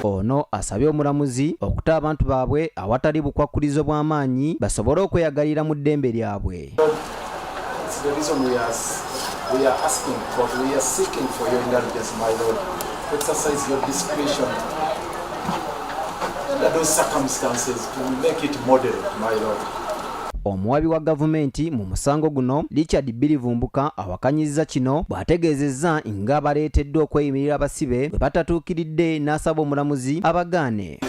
Ono asabye omulamuzi okuta abantu baabwe awatali bukwakkulizo bw'amaanyi basobole okweyagalira mu ddembe lyabwe. Omuwabi wa gavumenti mu musango guno Richard Birivumbuka awakanyizza kino bw'ategeezezza nga baleeteddwa okweyimirira abasibe bwe batatuukiridde n'asaba omulamuzi abagaane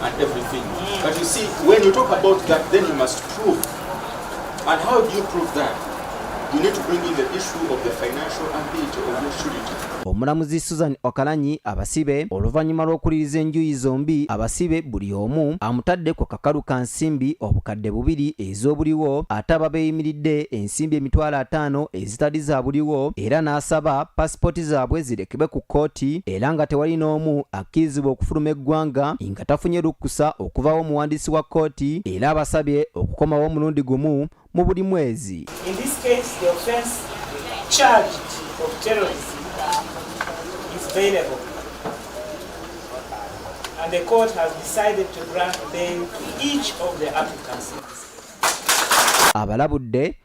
And everything. But you see, when you talk about that, then you must prove And how do you prove that? You need to bring in the issue of the financial ability of your surety. Omulamuzi Susan Okalanyi abasibe oluvannyuma lw'okuliriza enjuyi zombi abasibe buli omu amutadde ku kakalu ka nsimbi obukadde bubiri ez'obuliwo ate ababeeyimiridde ensimbi emitwalo ataano ezitali za buliwo era n'asaba pasipooti zaabwe zirekebwe ku kkooti era nga tewali n'omu akkirizibwa okufuluma eggwanga nga tafunye lukkusa okuvawo omuwandiisi wa kkooti era abasabye okukomawo omulundi gumu mu buli mwezi And the court has decided to grant bail to each of the applicants. abalabudde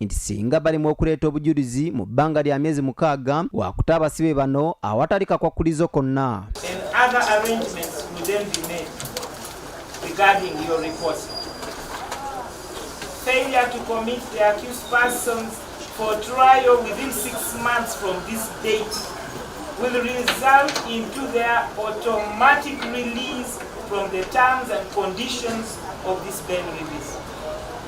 nti singa balemwa okuleeta obujulizi mu bbanga lya myezi mukaaga wakuta abasibe bano awatali kakwakkulizo konna Failure to commit the accused persons for trial within six months from this date will result into their automatic release from the terms and conditions of this bail release.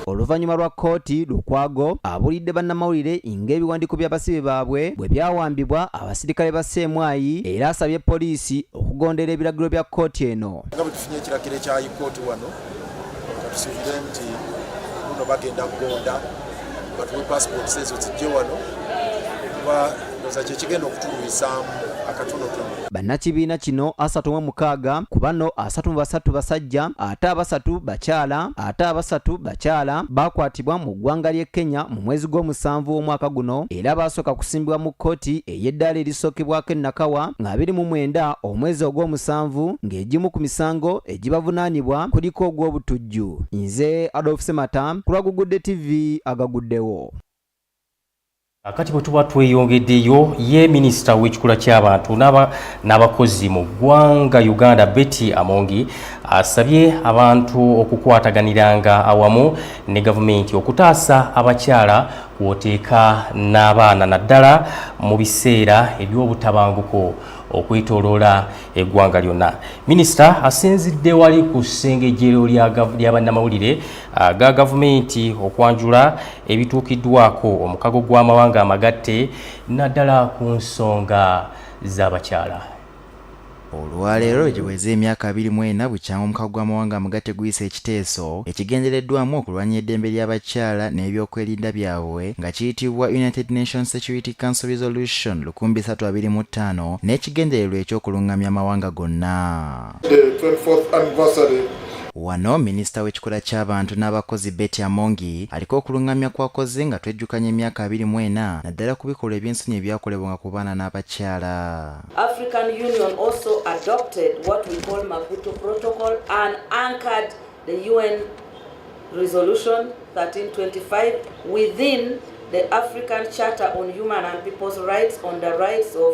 Oluvannyuma lwa kkooti, Lukwago abuulidde bannamawulire ng'ebiwandiiko by'abasibe baabwe bwe byawambibwa abasirikale ba Ssemwayi era asabye poliisi okugondera ebiragiro bya kkooti eno. Nga bwe tufunye ekiragiro ekya kkooti wano, katusuubire nti buno bagenda kugonda batuwe paasipooti ezo zijje wano kuba Bannakibiina kino asatu mu mukaaga ku bano asatu mu basatu basajja ate abasatu bakyala ate abasatu bakyala baakwatibwa mu ggwanga ly'e Kenya mu mwezi gw'omusanvu w'omwaka guno era baasooka kusimbibwa mu kkooti ey'eddaala erisookebwako e Nakawa ng'abiri mu mwenda omwezi ogw'omusanvu ng'egimu ku misango egibavunaanibwa kuliko ogw'obutujju. Nze Adolf Semata ku lwa Gugudde TV agaguddewo. Akati bwe tuba tweyongeddeyo ye minisita w'ekikula ky'abantu n'abakozi mu ggwanga Uganda Betty Amongi asabye abantu okukwataganiranga awamu ne gavumenti okutaasa abakyala kwoteeka n'abaana naddala mu biseera eby'obutabanguko okwetoloola eggwanga lyonna minisita asinzidde wali ku ssengejjero lya bannamawulire ga gavumenti okwanjula ebituukiddwako omukago gw'amawanga amagatte naddala ku nsonga z'abakyala olwaleero giweze emyaka 24 bukyanga omukago gw'amawanga amugate guyisa ekiteeso ekigendereddwamu okulwanya eddembe ly'abakyala n'ebyokwerinda byabwe nga kiyitibwa united nations security council resolution 325 n'ekigendererwa eky'okulungamya amawanga gonna Wano minisita w'ekikula ky'abantu n'abakozi Betty Amongi aliko okulungamya kwakoze nga twejjukanya emyaka abiri mu ena naddala ku bikolwa eby'ensonyi ebyakolebwanga ku baana n'abakyala. African Union also adopted what we call Maputo Protocol and anchored the UN Resolution 1325 within the African Charter on Human and People's Rights on the Rights of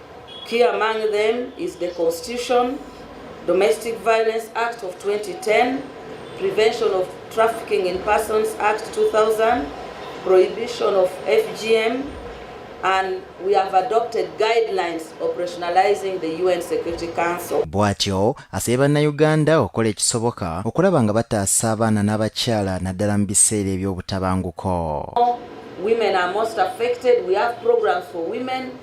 Key among them is the Constitution, Domestic Violence Act of 2010, Prevention of Trafficking in Persons Act 2000, Prohibition of FGM, and we have adopted guidelines operationalizing the UN Security Council. Bwatyo asabye bannayuganda okukola ekisoboka okulaba nga bataasa abaana n'abakyala naddala mu biseera eby'obutabanguko. Women are most affected. We have programs for women.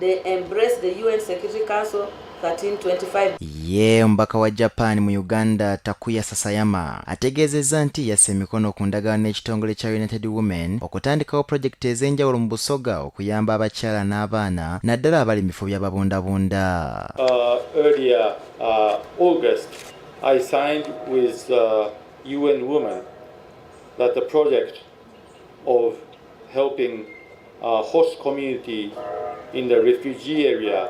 They embrace the UN Security Council 1325. Ye omubaka wa Japan mu Uganda Takuya Sasayama ategeezezza nti yassa emikono ku ndagaano n'ekitongole kya United Women okutandikawo pulojekiti ez'enjawulo mu Busoga okuyamba abakyala n'abaana naddala abali mu bifo by'ababundabunda. Uh, earlier, uh, August, I signed with, uh, UN Women that the project of helping uh, host community in the refugee area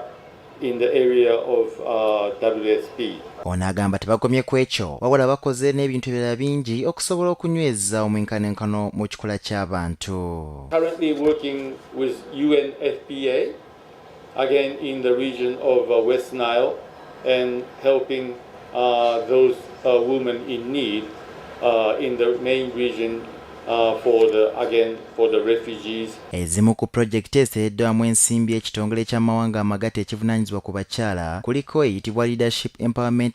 in the area of uh, WSP. Ono agamba tebakomye ku ekyo wabula bakoze n'ebintu ebirala bingi okusobola okunyweza omwenkanenkano mu kikula ky'abantu. Currently working with UNFPA again in the region of uh, West Nile and helping uh, those uh, women in need uh, in the main region uh, for the again for the refugees ezimu ku projekiti eseeddwamu ensimbi ekitongole ky'amawanga amagate ekivunanyizibwa ku bakyala kuliko eyitibwa leadership empowerment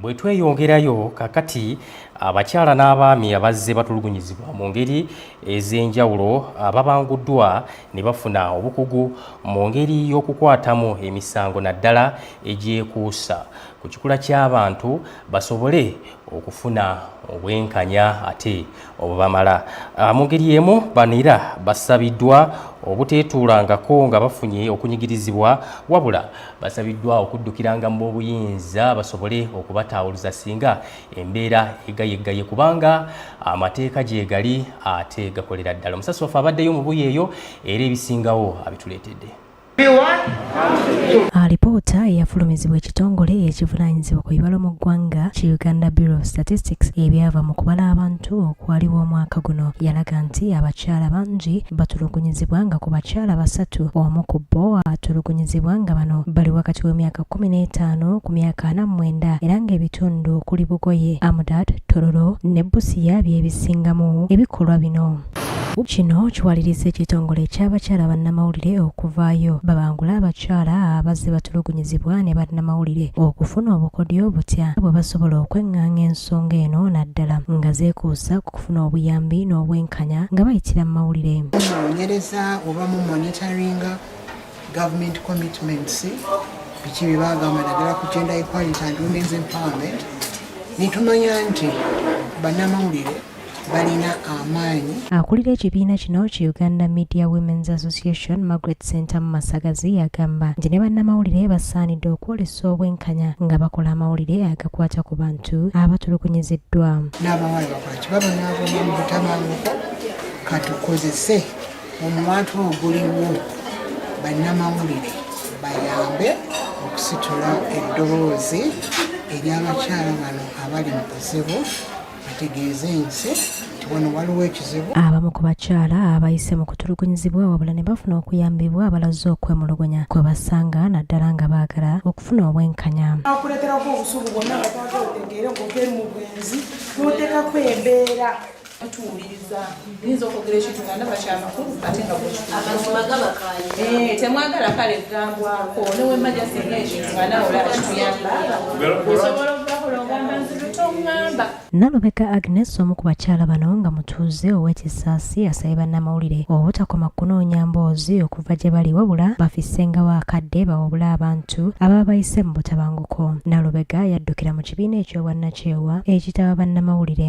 Bwe tweyongerayo kakati abakyala n'abaami abazze batulugunyizibwa mu ngeri ez'enjawulo ababanguddwa ne bafuna obukugu mu ngeri y'okukwatamu emisango naddala egyekuusa ku kikula ky'abantu basobole okufuna obwenkanya ate obubamala ah, mu ngeri emu bano era basabiddwa obuteetuulangako nga bafunye okunyigirizibwa wabula basabiddwa okuddukiranga mu b'obuyinza basobole okubataawuluza singa embeera egayeggaye kubanga amateeka gyegali ate gakolera ddala omusasi waffe abaddeyo mu buyeeyo era ebisingawo abituleetedde alipoota eyafulumizibwa ekitongole ekivunanyizibwa ku bibalo mu ggwanga ki uganda bureau of statistics ebyava mu kubala abantu okwaliwo omwaka guno yalaga nti abakyala bangi batulugunyizibwa nga ku bakyala basatu omu ku bo atulugunyizibwa nga bano bali wakati w'emyaka 15 ku myaka 49 era ng'ebitundu okuli bugoye amudat tororo ne busiya byebisingamu ebikolwa bino Kino kiwaliriza ekitongole ky'abakyala bannamawulire okuvaayo babangula abakyala abazze batulugunyizibwa ne bannamawulire okufuna obukodyo obutya bwe basobola okweng'anga ensonga eno naddala nga zeekuusa ku kufuna obuyambi n'obwenkanya nga bayitira mu mawulire munoonyereza oba mu monitoringa government commitments biki bye bagamba naddala ku gender equality and women's empowerment netumanya nti bannamawulire balina amaanyi akulira ekibiina kino ki uganda media women's association margaret center mu masagazi agamba nti ne bannamawulire basaanidde okwolesa obwenkanya nga bakola amawulire agakwata ku bantu abatulugunyiziddwa n'abawala bakwaki babonaabona mu butabanguko katukozese omuwantu oguliwo bannamawulire bayambe okusitula eddoboozi ery'abakyala bano abali mu buzibu bategeeze nti wano waliwo ekizibu abamu ku bakyala abayise mu kutulugunyizibwa wabula ne bafuna okuyambibwa abalaze okwemulugunya kwe basanga naddala nga baagala okufuna obwenkanya akuleeterako obusubu bwonna nga twaga otegeere ng'obeeri mu bwenzi n'oteekako embeera tuwuliriza nyinza okwogera ekintu nga ndaba kyamakulu ate nga bwekitemwagala eh, kale gambwako newemaja singa ekintu nga nawe olaba kituyamba osobola okugakola ogamba nzilu tongamba Nalubega Agnes omu ku bakyala bano nga mutuuze ow'ekisaasi asabye bannamawulire obutakoma kunoonya mboozi okuva gye bali wabula bafissengawo akadde bawabule abantu ababa bayise mu butabanguko. Nalubega yaddukira mu kibiina eky'obwannakyewa ekitaba bannamawulire.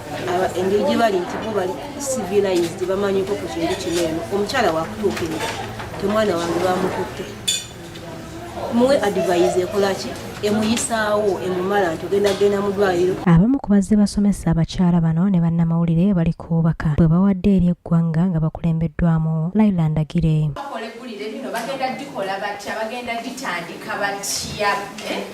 engeri gye bali nti bo bali civilized bamanyiko ku kintu kino eno omukyala wakutuukirira temwana wange bamukutte muwe advise ekolaki emuyisaawo emumala nti ogenda genda mu ddwaliro abamu ku bazze basomesa abakyala bano ne bannamawulire bali ku bubaka bwe bawadde eri eggwanga nga bakulembeddwamu laila ndagire bakola eggulire lino bagenda gikola batya bagenda gitandika batya eh?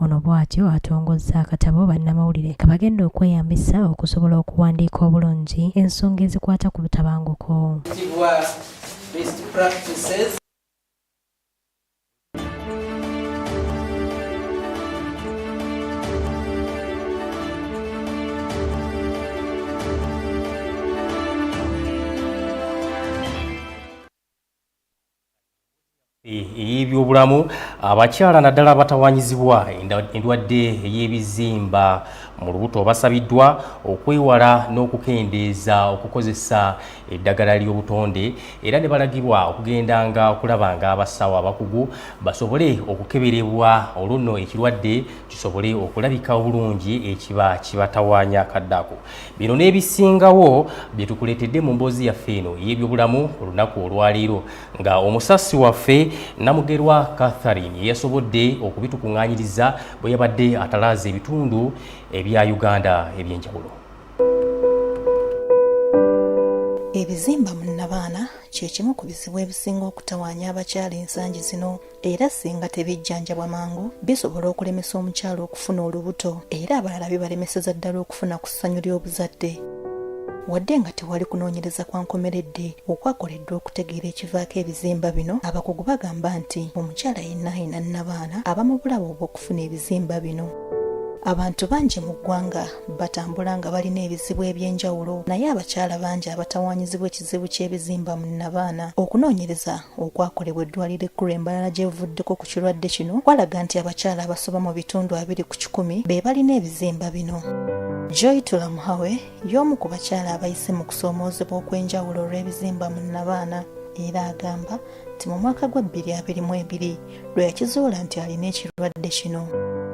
ono bwatyo atongozza akatabo bannamawulire kabagenda okweyambisa okusobola okuwandiika obulungi ensonga ezikwata ku butabanguko ey'ebyobulamu abakyala naddala abatawanyizibwa endwadde ey'ebizimba mu lubuto basabiddwa okwewala n'okukendeeza okukozesa eddagala ly'obutonde era ne balagirwa okugendanga okulaba nga abasawo abakugu basobole okukeberebwa olwo nno ekirwadde kisobole okulabika obulungi ekiba kibatawanya kaddako Bino n'ebisingawo bye tukuleetedde mu mboozi yaffe eno ey'ebyobulamu olunaku olwaleero nga omusasi waffe Namugerwa Catherine yeyasobodde okubitukuŋŋaanyiriza bwe yabadde atalaaza ebitundu ebya Uganda eby'enjawulo. Ebizimba mu nnabaana kye kimu ku bizibu ebisinga okutawaanya abakyala ensangi zino. era singa tebijjanjabwa mangu bisobola okulemesa omukyala okufuna olubuto era abalala bibalemeseza ddala okufuna ku ssanyu ly'obuzadde wadde nga tewali kunoonyereza kwa nkomeredde okwakoleddwa okutegeera ekivaako ebizimba bino abakugu bagamba nti omukyala yenna alina nnabaana aba mu bulabe obw'okufuna ebizimba bino abantu bangi mu ggwanga batambula nga balina ebizibu eby'enjawulo naye abakyala bangi abatawaanyizibwa ekizibu ky'ebizimba mu nnabaana okunoonyereza okwakolebwa eddwaliro ekkulu embalala gyebuvuddeko ku kirwadde kino kwalaga nti abakyala abasoba mu bitundu abiri ku kikumi be balina ebizimba bino joy tulamuhawe y'omu ku bakyala abayise mu kusoomoozebwa okw'enjawulo olw'ebizimba mu nabaana era agamba nti mu mwaka gwa 2022 lwe yakizuula nti alina ekirwadde kino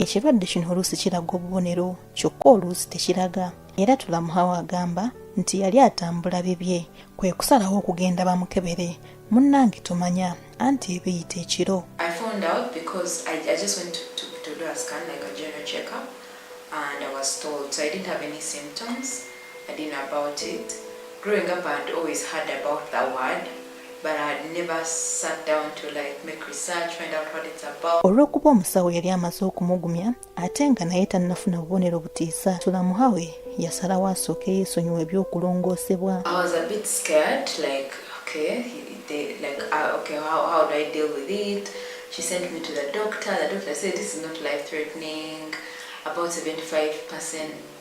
ekirwadde kino oluusi kiraga obubonero kyokka oluusi tekiraga era Tulamuhawo agamba nti yali atambula bibye kwe kusalawo okugenda bamukebere munnange tomanya anti ebiyita ekiro and I was told. So I didn't have any symptoms. I didn't know about it. Growing up, I had always heard about the word, but I had never sat down to like make research, find out what it's about. Olw'okuba omusawo yali amaze okumugumya ate nga naye tannafuna bubonero butiisa tulamuhawe yasalawo asooke yeesonyiwa eby'okulongoosebwa She sent me to the doctor. The doctor said this is not life threatening. About 75%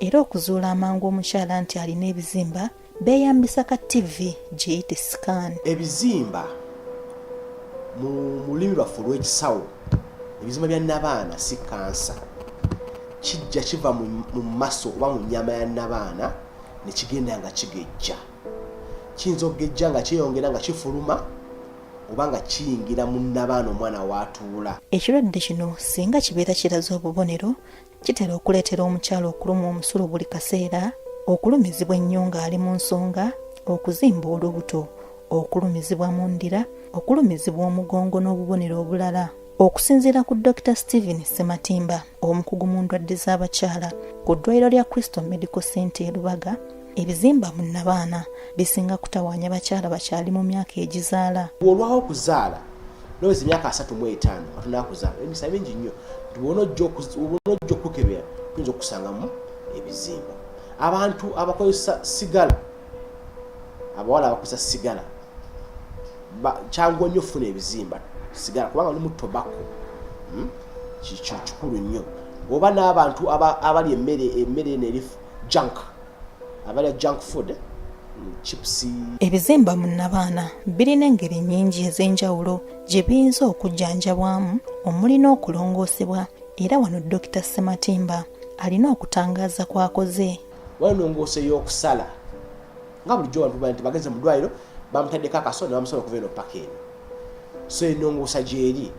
era okuzuula amangu omukyala nti alina ebizimba beeyambisa ka ttivi giyite scan ebizimba mu lulimi lwaffe olw'ekisawo ebizimba bya nabaana si kansa kijja kiva mu maso oba mu nyama ya nabaana nekigenda nga kigejja kiyinza okugejja nga kyeyongera nga kifuluma oba nga kiyingira mu nabaana omwana waatuula ekirwadde kino singa kibeera kiraze obubonero Kitera okuleetera omukyala okulumwa omusulu buli kaseera, okulumizibwa ennyo ng'ali mu nsonga, okuzimba olubuto, okulumizibwa mu ndira, okulumizibwa omugongo n'obubonero obulala. Okusinziira ku Dr Stephen Ssematimba, omukugu mu ndwadde z'abakyala ku ddwaliro lya Crystal Medical Center e Lubaga, ebizimba mu nabaana bisinga kutawaanya bakyala bakyali mu myaka egizaala bw'olwawo okuzaala noweza emyaka asatu mu etaano katonda akuzaala emisa mingi nnyo bona ojja okukebera tuyinza okusangamu ebizimba abantu abakozesa sigala abawala abakozesa sigala kyanguwa nnyo okufuna ebizimba sigala kubanga lumu tobako hmm? kikulu nnyo oba n'abantu abali emmere emmere nerifu junk abalya junk food eh? ebizimba mu nnabaana birina engeri nnyingi ez'enjawulo gye biyinza okujjanjabwamu omuli n'okulongoosebwa era wano dokita sematimba alina okutangaaza kwakoze walongoose y'okusala nga bulijjo bantu baa nti bagenze mu ddwaliro bamutaddeko akaso ne bamusala okuva eno paka eno so enongoosa gyeri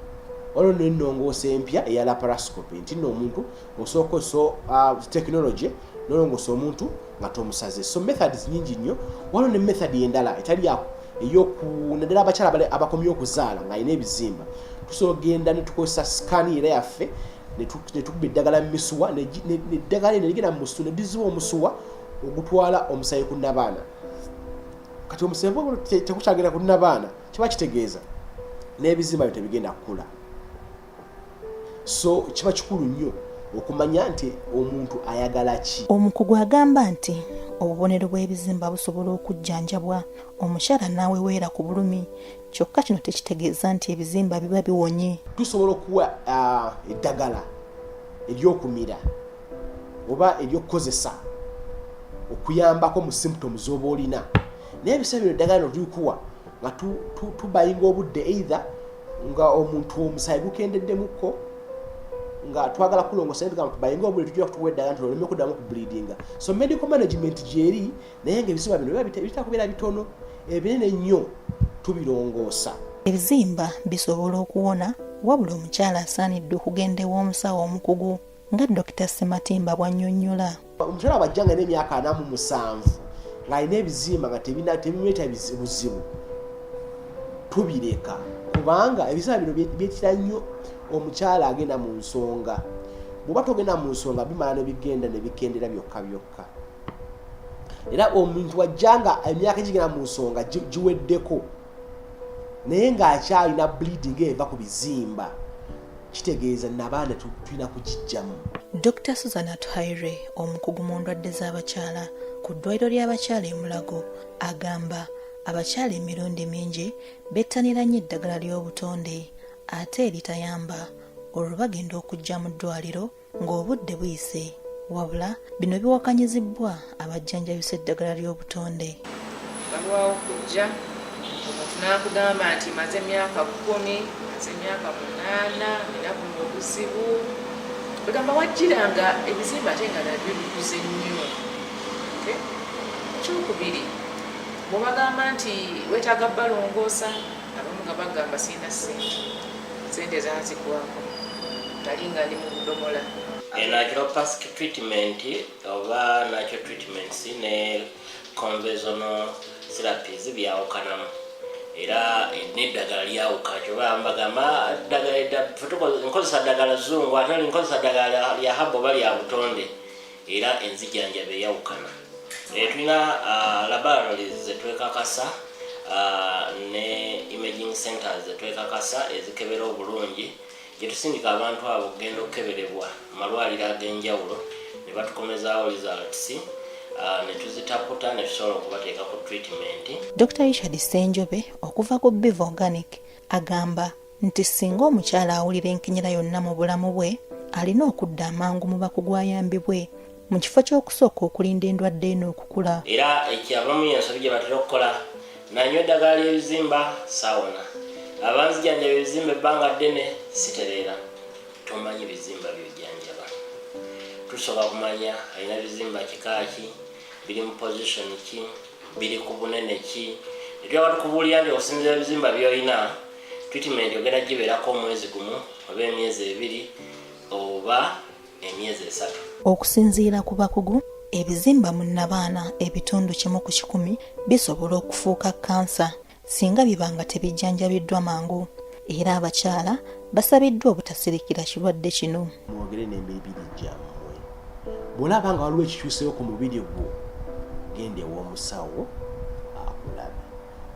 waliwo nenongoosa empya eya laparascope nti no omuntu osooka oso uh, technology nolongosa omuntu nga tomusaze so methods nyingi nnyo waliwo ne method endala etali yako eyokunadala abakyala abakomye okuzaala nga alina ebizimba tusobola genda netukozesa sikani era yaffe netukuba eddagala mumisuwa neddagala eno ligenda mumusu nediziwa omusuwa ogutwala omusayi ku nabaana kati omusayi tekukyagenda ku nabaana kiba kitegeeza n'ebizimba byo tebigenda kukula so kiba kikulu nnyo okumanya nti omuntu ayagala ki omukugu agamba nti obubonero bw'ebizimba busobola okujjanjabwa omukyala n'aweweera ku bulumi kyokka kino tekitegeeza nti ebizimba biba biwonye tusobola okuwa ah, eddagala eryokumira oba eryokukozesa okuyambako mu symptoms oba olina naye ebiseera bino eddagala notulikuwa nga tubayinga obudde eitha nga omuntu omusayi gukendeddemukko nga twagala kulongosa nga tubayinga obudde tujja kutuwa eddala nti oleme kuddamu kubleedinga so medical management gyeri naye nga ebiziba bino bitera kubeera bitono ebinene nnyo tubirongoosa ebizimba bisobola okuwona wabula omukyala asaanidde okugenda ew'omusawo omukugu nga Dokita Sematimba bw'annyonnyola. Omukyala bw'ajja nga n'emyaka ana mu musanvu ng'alina ebizimba nga tebimuleeta buzibu tubireka kubanga ebizimba bino byetira nnyo omukyala agenda mu nsonga bw'oba togenda mu nsonga bimala ne bigenda ne bikendera byokka byokka era omuntu wajja nga emyaka egigenda mu nsonga giweddeko naye ng'akyalina bleeding eva ku bizimba kitegeeza nabaana tulina kugijjamu dr susan atuhaire omukugu mu ndwadde z'abakyala ku ddwaliro ly'abakyala emulago agamba abakyala emirundi mingi bettanira nnyo eddagala ly'obutonde ate eritayamba olwo bagenda okujja mu ddwaliro ng'obudde buyise wabula bino biwakanyizibbwa abajjanjabisa eddagala ly'obutonde balwawo kujja omuntu n'akugamba nti maze emyaka kkumi maze emyaka munaana era buno obuzibu egamba wajjira nga ebizimba ate nga nabyo bikuze nnyo ekyokubiri bwebagamba nti wetaaga balongoosa abamu nga bagamba sirina sente Sente zanzigwako nali nga ndi mu budomola. e natural pask treatment oba natural treatments ne conventional therapies byawukanamu era neddagala lyawuka kyoba mbagamba nkozesa ddagala zungu ate nkozesa ddagala lya haba oba lya butonde era enzijanjaba eyawukana e, tulina uh, laboratories zetwekakasa uh, ne imaging centers zetwekakasa ezikebera obulungi gyetusindika abantu abo okugenda okukeberebwa malwaliro ag'enjawulo ne batukomezaawo results Ah, netuzitaputa netusobola okubateeka ku treatment dr richard senjobe okuva ku biv organic agamba nti singa omukyala awulira enkinyira yonna mu bulamu bwe alina okudda amangu mu bakugu ayambibwe mu kifo ky'okusooka okulinda endwadde eno okukula era ekyabamu yensobi gye batera okukola nanywa eddagala ly'ebizimba saawona abanzijanjaba ebizimba ebbanga ddene sitereera tomanyi bizimba byojanjaba tusobola kumanya alina bizimba kikaaki biri mu position ki biri ku bunene ki ebyaba tukubuulira nti okusinzira ebizimba byolina Treatment ogenda gibeerako omwezi gumu oba emyezi ebiri oba emyezi esatu. Okusinziira ku bakugu, ebizimba mu nnabaana ebitundu kimu ku kikumi bisobola okufuuka kkansa singa biba nga tebijjanjabiddwa mangu era abakyala basabiddwa obutasirikira kirwadde kino. Mwogere n'emibiri gyammwe. Bw'olaba nga waliwo ekikyuseewo ku mubiri gwo, genda ew'omusawo akulabe.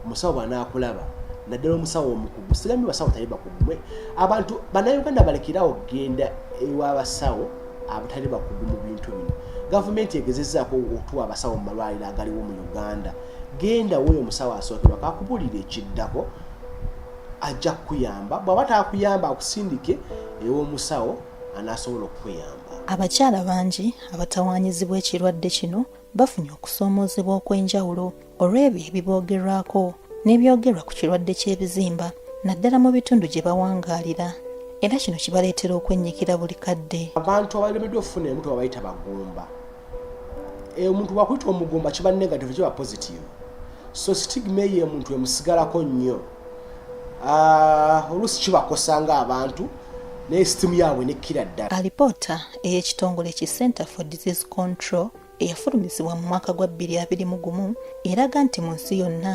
omusawo bwanakulaba naddala omusawo omukugu sigambi basawo tali bakugu mwe abantu banauganda balekerawo okugenda ewabasawo abatali bakugu mu bintu bino gavumenti egezezaako okutuwa abasawo mu malwaliro agaliwo mu uganda genda woyo omusawo asookerwa kakubulira ekiddako ajja kukuyamba bwaba takuyamba akusindike ew'omusawo anasobola okukuyamba abakyala bangi abatawanyizibwa ekirwadde kino bafunye okusoomoozebwa okw'enjawulo olw'ebyo ebiboogerwako n'ebyogerwa ku kirwadde ky'ebizimba naddala mu bitundu gye bawangaalira era kino kibaleetera okwennyikira buli kadde abantu abalemeddwa okufuna emutu babayita bagumba eh, omuntu wakuyita omugumba kiba negative kiba positive so stigma eyo omuntu emusigalako nnyo ah, oluusi kibakosa nga abantu naye sitimu yaabwe nekkira ddala alipoota ey'ekitongole ki center for disease control eyafulumizibwa mu mwaka gwa bbiri abiri mu gumu eraga nti mu nsi yonna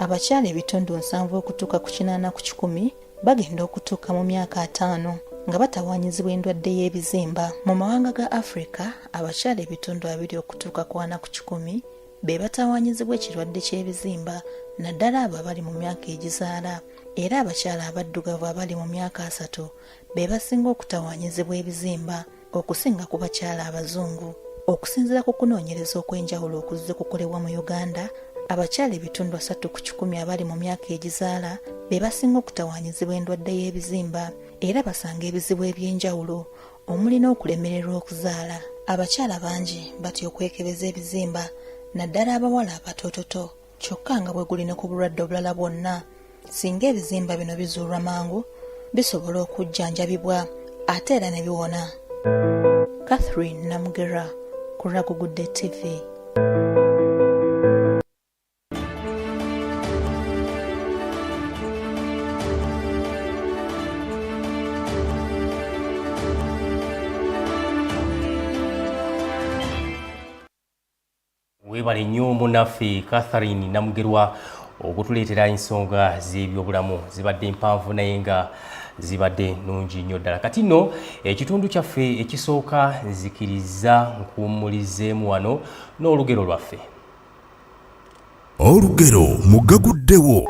abakyala ebitundu nsanvu okutuuka ku kinaana ku kikumi bagenda okutuuka mu myaka ataano nga batawaanyizibwa endwadde y'ebizimba mu mawanga ga afirika abakyala ebitundu abiri okutuuka ku ana ku kikumi be batawaanyizibwa ekirwadde ky'ebizimba naddala abo abali mu myaka egizaala era abakyala abaddugavu abali mu myaka asatu be basinga okutawaanyizibwa ebizimba okusinga ku bakyala abazungu okusinzira ku kunoonyereza okw'enjawulo okuzze kukolebwa mu uganda abakyala ebitundu asatu ku kikumi abali mu myaka egizaala be basinga okutawaanyizibwa endwadde y'ebizimba era basanga ebizibu eby'enjawulo omuli n'okulemererwa okuzaala abakyala bangi batya okwekebeza ebizimba naddala abawala abatoototo kyokka nga bwe guli ne ku bulwadde obulala bwonna singa ebizimba bino bizuulwa mangu bisobola okujjanjabibwa ate era ne biwona catherine namugera ku ragugudde tv Webale nnyo munaffe Catherine Namugerwa okutuleetera ensonga z'ebyobulamu zibadde mpanvu naye nga zibadde nungi nnyo ddala kati nno ekitundu kyaffe ekisooka nzikiriza nkuwummulizeemu wano n'olugero lwaffe Olugero mugaguddewo.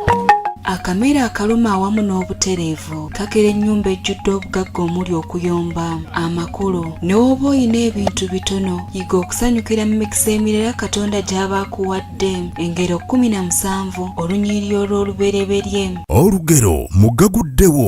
Akamere akaluma awamu n'obutereevu kakera ennyumba ejjudde obugagga omuli okuyomba amakulu ne woba olina ebintu bitono yiga okusanyukira mu mikisa emirala katonda gy'aba akuwadde engero kkumi na musanvu olunyiriri olw'olubereberye olugero mugaguddewo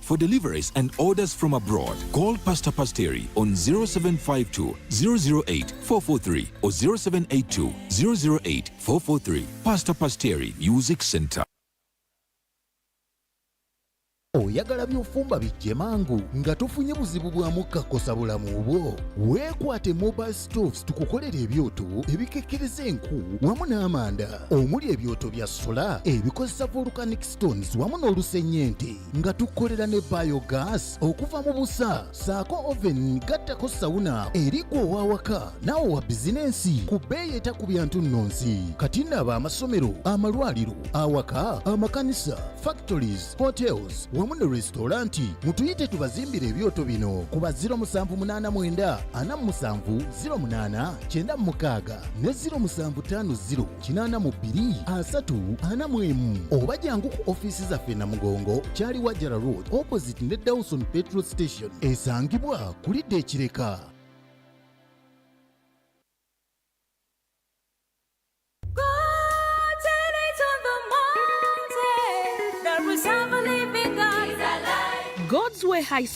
For deliveries and orders from abroad, call Pastor Pasteri on 0752 008 443 or 0782 008 443. Pastor Pasteri Music Center. oyagala byofumba bijje mangu nga tofunye buzibu bwa mukka kosa bulamu bwo weekwate mobile stoves tukukolera ebyoto ebikekkereza enku wamu n'amanda omuli ebyoto bya sola ebikozesa volcanic stones wamu n'olusennyente nga tukolera ne biogas okuva mu busa saako oven gattako sawuna eri gwe ow'awaka naawe wa bizinensi ku bbeeyi etakubya ntunnonsi kati naaba amasomero amalwaliro awaka amakanisa factories hotels wamu ne resitoranti mutuyite tubazimbire ebyoto bino kuba 0789 47 96 ne 0750 kinaana mu bbiri asatu ana mu emu oba jangu ku ofiisi zaffe namugongo kyali wajara road opposite ne dawson petrol station esangibwa kulidde ekireka God's Way High School.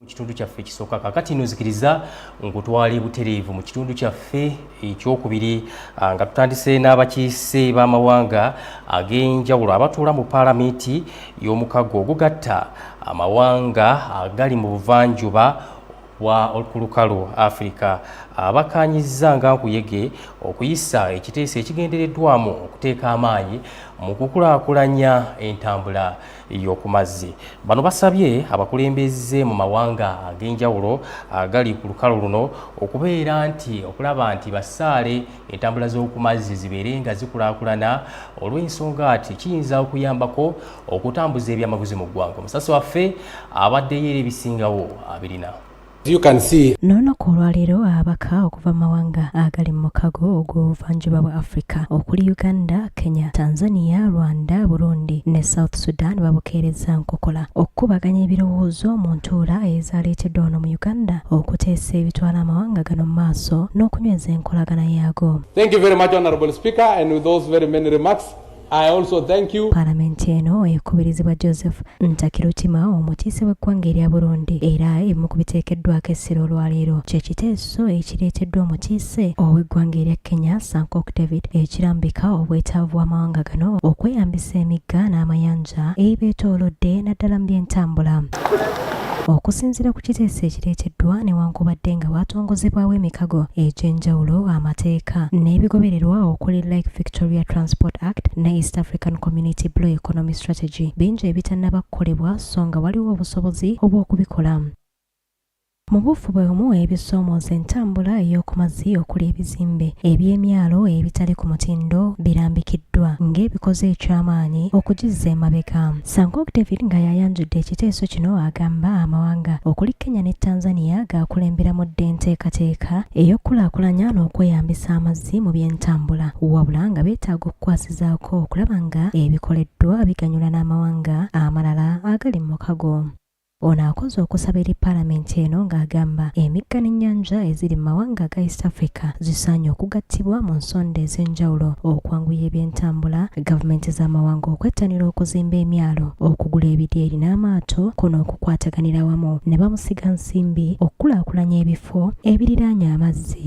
mu kitundu kyaffe ekisooka kakati no zikiriza nkutwali butereevu mu kitundu kyaffe ekyokubiri ah, nga tutandise n'abakiise b'amawanga ag'enjawulo abatuula mu paalamenti y'omukago ogugatta amawanga agali mu buvanjuba bwa olukulukalu afirika abakaanyizza nga nkuyege okuyisa ekiteeso ekigendereddwamu okuteeka amaanyi mu kukulaakulanya entambula yokumazzi bano basabye abakulembeze mu mawanga ag'enjawulo agali ku lukalo luno okubeera nti okulaba nti basaale entambula z'okumazzi zibeere nga zikulaakulana olw'ensonga ati kiyinza okuyambako okutambuza ebyamaguzi mu ggwanga omusasi waffe abaddeyo era ebisingawo abirina n'olunaku olwaleero ababaka okuva mu mawanga agali mu mukago ogw'obuvanjuba bwa africa okuli uganda kenya tanzania rwanda burundi ne south sudan babukeereza nkokola okukubaganya ebirowoozo mu ntuula ezaaleeteddwa wano mu uganda okuteesa ebitwala amawanga gano mu maaso n'okunyweza enkolagana yaago I also thank you. Palamenti eno ekubirizibwa Joseph Ntakirutima omukiise w'eggwanga erya Burundi era emu ku biteekeddwako essira olwaleero kye kiteeso ekireeteddwa omukiise ow'eggwanga erya Kenya Sankok David ekirambika obwetaavu bw'amawanga gano okweyambisa emigga n'amayanja ebibeetoolodde naddala mu byentambula. Okusinzira ku kiteeso ekireeteddwa newankubadde nga waatongozebwawo emikago egy'enjawulo amateeka n'ebigobererwa okuli Lake Victoria Transport Act ne East African Community Blue Economy Strategy bingi ebitannaba kukolebwa so nga waliwo obusobozi obw'okubikola. Mu buufu bwe bumu ebisoomooza entambula ey'oku mazzi okuli ebizimbe eby'emyalo ebitali ku mutindo birambikiddwa ng'ebikoze eky'amaanyi okugizza emabega. Sangok David nga y'ayanjudde ekiteeso kino agamba amawanga okuli Kenya ne Tanzania gaakulemberamu dda enteekateeka ey'okukulaakulanya n'okweyambisa amazzi mu by'entambula wabula nga beetaaga okukwasizaako okulaba nga ebikoleddwa biganyula n'amawanga amalala agali mu mukago. Ono akoze okusaba eri palamenti eno ng'agamba emigga n'ennyanja eziri mu mawanga ga East Africa zisaanye okugattibwa mu nsonda ez'enjawulo okwanguya ebyentambula, gavumenti z'amawanga okwettanira okuzimba emyalo, okugula ebidyeri n'amaato ko n'okukwataganira wamu ne bamusiga nsimbi okukulaakulanya ebifo ebiriraanye amazzi.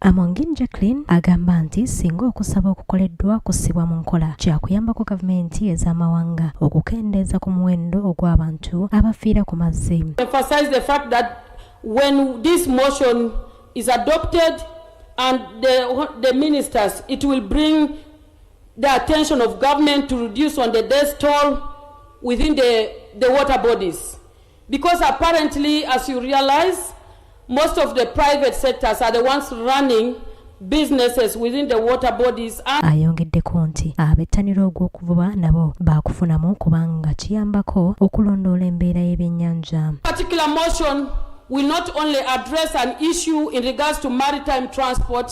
Amongin Jacqueline agamba nti singa okusaba okukoleddwa kussibwa mu nkola kyakuyambako gavumenti ez'amawanga okukendeeza ku muwendo ogw'abantu abafiira ku mazzi. When this motion is adopted and the, the ministers, it will bring the attention of government to reduce on the death toll within the, the water bodies. Because apparently as you realize most of the private sectors are the ones running businesses within the water bodies and... ayongeddeko nti abettanira ogw'okuvuba nabo baakufunamu kubanga kiyambako okulondoola embeera y'ebyennyanja particular motion will not only address an issue in regards to maritime transport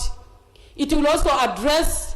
it will also address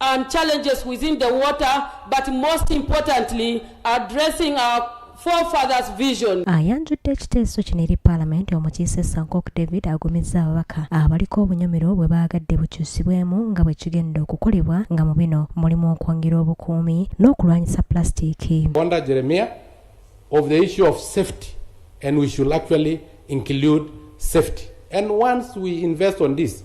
and challenges within the water but most importantly addressing our forefathers vision ayanjudde ekiteeso kino eri paalamenti omukiise sankok david agumizza ababaka abaliko obunyomero bwe baagadde bukyusibwemu nga bwe kigenda okukolebwa nga mu bino mulimu okwongera obukuumi n'okulwanyisa plasitiiki bonda jeremia of the issue of safety and we should actually include safety and once we invest on this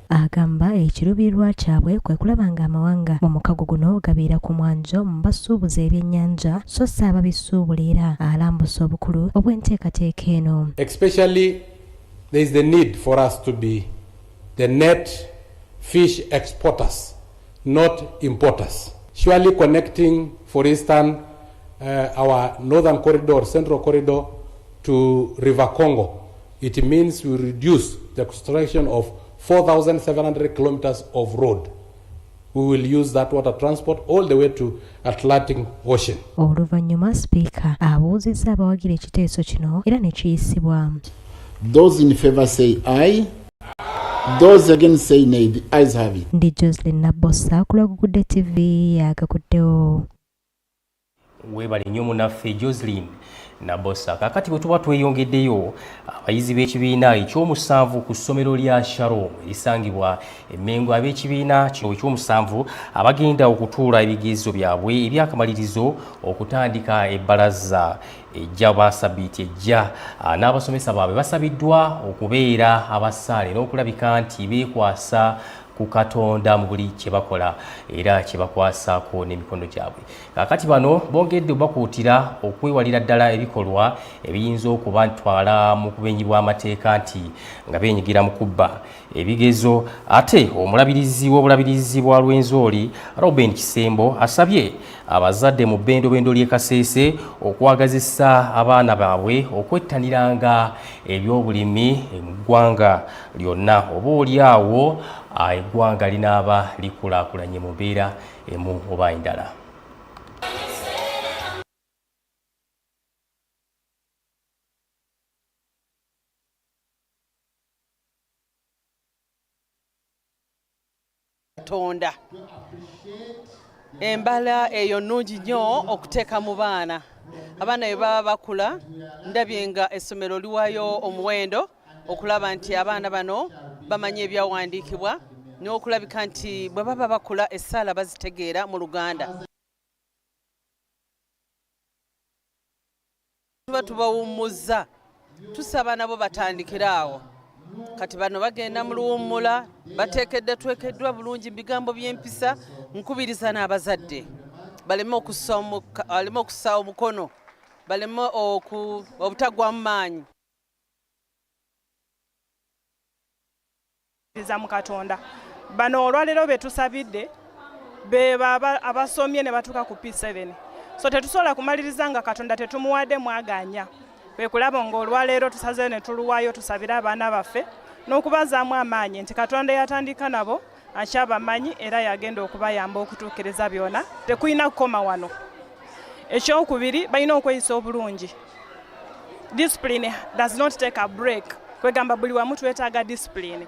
Agamba ekiruubirirwa kyabwe kwe kulaba ng'amawanga mu mukago guno gabeera ku mwanjo mu basuubuzi ebyennyanja so si ababisuubula era alambusa obukulu obw'enteekateeka eno. Especially there is the need for us to be the net fish exporters not importers. Surely connecting for instance uh, our northern corridor, central corridor to River Congo It means we reduce the construction of 4,700 kilometers of road. We will use that water transport all the way to Atlantic Ocean. Oluvannyuma speaker abuuzizza abawagira ekiteeso kino era ne kiyisibwa. Those in favor say aye. Those again say nay. The ayes have it. Ndi Jocelyn Nabossa ku Lwagugudde TV yakakuddewo. webale nnyo munaffe joselin nabosa kakati bwe tuba tweyongeddeyo abayizi b'ekibiina ekyomusanvu ku ssomero lya sharom erisangibwa emmengo ab'ekibiina kino ekyomusanvu abagenda okutuula ebigezo byabwe ebyakamalirizo okutandika ebbalaza ejja basabiiti ejja ah, n'abasomesa baabwe basabiddwa okubeera abasaale n'okulabika nti beekwasa ku katonda mu buli kye bakola era kye bakwasaako n'emikono gyabwe kakati bano bongedde obakuutira okwewalira ddala ebikolwa ebiyinza okuba ntwala mu kubenyi bw'amateeka nti nga benyigira mu kubba ebigezo ate omulabirizi w'obulabirizi bwa lwenzooli roben kisembo asabye abazadde mu bbendobendo ly'e kaseese okwagazisa abaana baabwe okwettaniranga ebyobulimi mu ggwanga lyonna oba oli awo eggwanga linaaba likulaakulanye mu mbeera emu oba endala. Katonda embala eyo nnungi nnyo okuteeka mu baana abaana bwe baba bakula ndabye nga essomero liwayo omuwendo okulaba nti abaana bano bamanya ebyawandiikibwa n'okulabika nti bwe baba bakula essaala bazitegeera mu luganda tuba tubawummuzza tusaba nabo batandikire awo kati bano bagenda mu luwummula bateekedde twekeddwa bulungi mu bigambo by'empisa nkubiriza n'abazadde baleme okusaawo omukono baleme obutagwamu maanyi za mu katonda bano olwaleero betusabidde bebo abasomye ne batuuka ku p7 so tetusobola kumaliriza nga katonda tetumuwadde mwaganya kwekulaba nga olwaleero tusazeyo ne tuluwayo tusabire abaana baffe n'okubazaamu amaanyi nti katonda yatandika nabo akyabamanyi era yagenda okubayamba okutuukiriza byona tekulina kukoma wano ekyokubiri balina okweyisa obulungi discipline does not take a break kwegamba buli wamu twetaaga discipline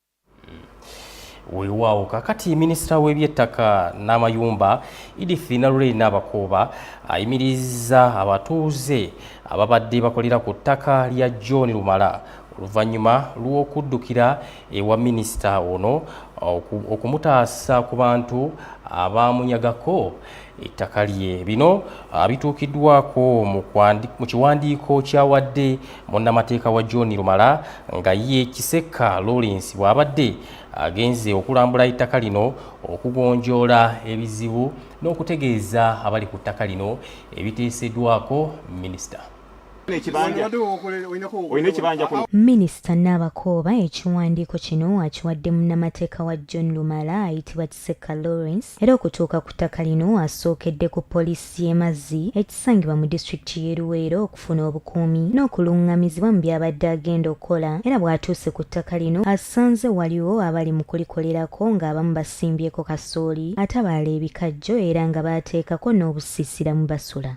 weewaawo kakati minisita w'ebyettaka n'amayumba edith nalulei n'abakooba ayimiriza abatuuze ababadde bakolera ku ttaka lya john lumala oluvannyuma lw'okuddukira ewa minisita ono okumutaasa ku bantu abaamunyagako ettaka lye bino ah, bituukiddwako mu kiwandiiko kyawadde munnamateeka wa john lumala nga ye kisekka lawrence bw'abadde agenze okulambula ettaka lino okugonjoola ebizibu n'okutegeeza abali ku ttaka lino ebiteeseddwako minisita minisita n'abakooba ekiwandiiko kino akiwadde munnamateeka wa john lumala ayitibwa kiseka lawrence era okutuuka ku ttaka lino asookedde ku poliisi y'emazzi ekisangibwa mu disitulikiti y'e luweero okufuna obukuumi n'okulungamizibwa mu byabadde agenda okukola era bw'atuuse ku ttaka lino asanze waliwo abali mu kulikolerako ng'abamu basimbyeko kasooli ate abaala ebikajjo era nga baateekako n'obusiisira mu basula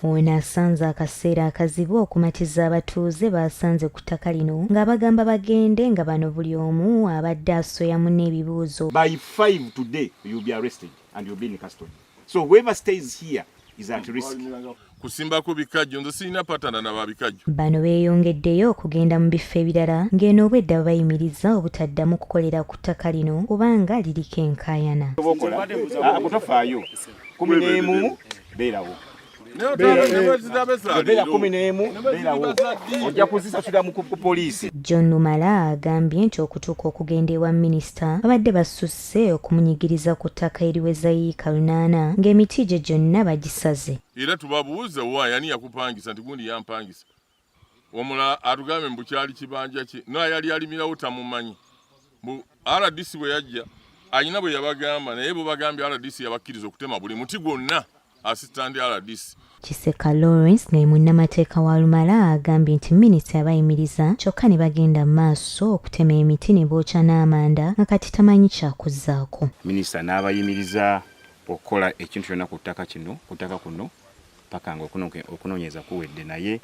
Ono asanze akaseera akazibu okumatiza abatuuze baasanze ku ttaka lino ng'abagamba bagende nga bano buli omu abadde asoya muna ebibuuzo By five today, you'll be arrested and you'll be in custody. So whoever stays here is at risk. kusimbako bikajjo nze sirina patana na babikajjo bano beeyongeddeyo okugenda mu bifo ebirala ng'eno obwedda babayimiriza obutaddamu kukolera ku ttaka lino kubanga liriko enkaayana ah, kumi n'emu beerawo John Lumala agambye nti okutuuka okugenda ewa minisita babadde basusse okumunyigiriza ku ttaka eriweza yiika lunaana ng'emiti gye gyonna bagisaze era tubabuuze wa yani yakupangisa nti gundi yampangisa omulala atugambe mbu kyali kibanja kye naye yali alimirawo tamumanyi mbu rdc bwe yajja alina bwe yabagamba naye bo bagambye rdc yabakkiriza okutema buli muti gwonna asistandi rdc kiseka lawrence naye munnamateeka wa lumala agambye nti minisita yabayimiriza kyokka ne bagenda mu maaso okutema emiti ne bookya n'amanda nga kati tamanyi kyakuzaako minisita n'abayimiriza okukola ekintu kyonna ku ttaka kino ku ttaka kuno paka nga okunoonyereza kuwedde naye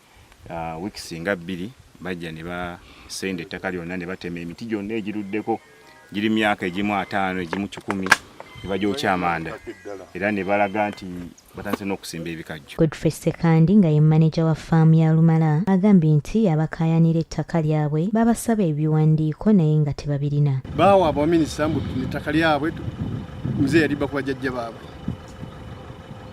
uh, wiiki singa bbiri bajja ne basenda ettaka lyonna ne batema emiti gyonna egiruddeko giri myaka egimu ataano egimu kikumi ne bagyokya amanda era ne balaga nti batandise n'okusimba ebikajjo godfrey sekandi nga ye maneja wa faamu ya lumala agambye nti abakaayanira ettaka lyabwe babasaba ebiwandiiko naye nga tebabirina baawa abaminisita mbu ettaka lyabwe muzeeyi yalibba ku bajajja baabwe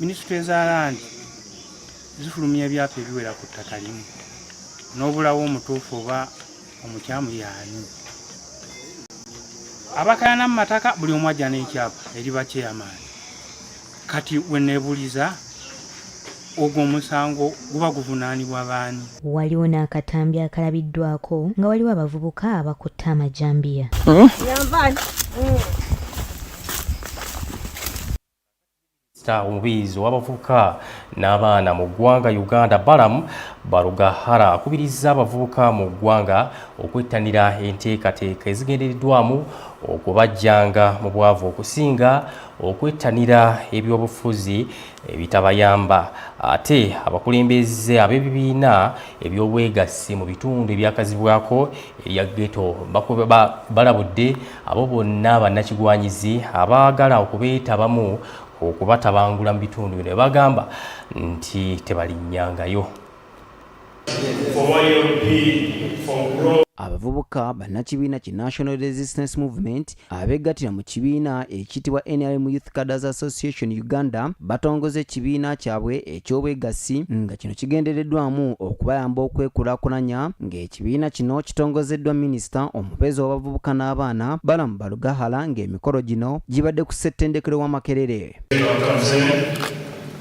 minisitule za landi zifulumya ebyapa ebiwera ku ttaka limu n'obulawo omutuufu oba omukyamu yaani abakayana mu mataka buli omu ajja n'ekyapa eri bakyeyamaani kati weneebuliza ogwo omusango guba guvunaanibwa baani? Waliwo n'akatambi akalabiddwako nga waliwo abavubuka abakutte amajambiya. Hmm? minisita omubiizi w'abavubuka n'abaana mu ggwanga uganda balam barugahara akubirizza abavubuka mu ggwanga okwettanira enteekateeka ezigendereddwamu okubajjanga mu bwavu okusinga okwettanira ebyobufuzi ebitabayamba ate abakulembeze ab'ebibiina eby'obwegassi mu bitundu ebyakazibwako erya geto balabudde abo bonna bannakigwanyizi abaagala okubeetabamu okubatabangula mu bitundu bino ebagamba nti tebalinyangayo abavubuka bannakibiina ki national resistance movement abeegattira mu kibiina ekiyitibwa nrm youth caders association uganda batongoza ekibiina kyabwe eky'obwegassi nga kino kigendereddwamu okubayamba okwekulakulanya ng'ekibiina kino kitongozeddwa minisita omubeezi w'abavubuka n'abaana balamu balugahala ng'emikolo gino gibadde ku ssettendekero wa makerere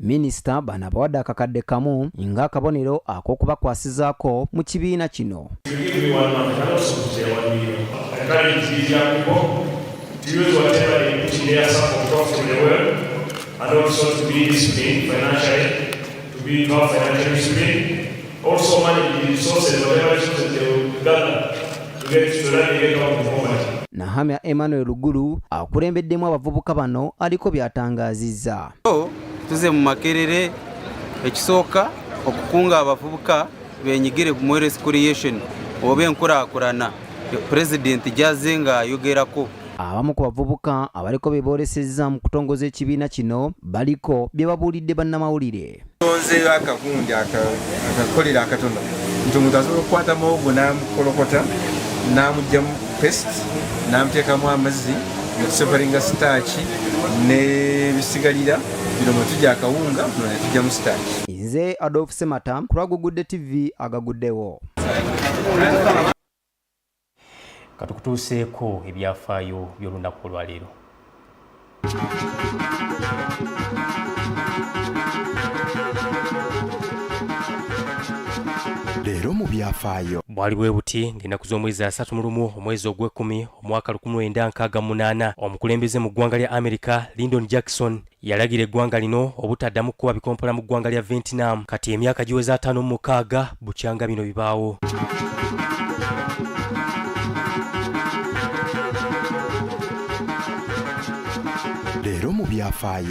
Minisita bano abawadde akakadde kamu ng'akabonero ak'okubakwasizaako mu kibiina kino. Also manage the resources, whatever resources they will gather to get to run the account of poverty. Nahamya Emmanuel Lugulu akulembeddemu abavubuka bano aliko by'atangaazizza. Tuze mu Makerere ekisooka okukunga abavubuka benyigire ku Mweres Creation oba enkulaakulana Pulezidenti gy'azze ng'ayogerako. Abamu ku bavubuka abaliko be boolesezza mu kutongoza ekibiina kino baliko bye babuulidde bannamawulire. tonzeeyo akagundi akakolera akatono nti omuntu asobola okukwata muwogo n'amukolokota n'amugyamu pest n'amuteekamu amazzi netuseveringa sitaaki n'ebisigalira bino mwe tugya akawunga bino ne tugyamu sitaaki nze adolf semata kulwagugudde tv agaguddewo katukutuuseeko ebyafaayo by'olunaku olwaleero leero mu byafaayo bwali bwe buti ng'ennaku z'omwezi asatu mu lumu omwezi ogw'ekkumi omwaka 1968 omukulembeze mu ggwanga lya amerika lindon jackson yalagira eggwanga lino obutaddamu kukuba bikompola mu ggwanga lya vietnam kati emyaka giweza ataano mu mukaaga bukyanga bino bibaawo leero mu byafaayo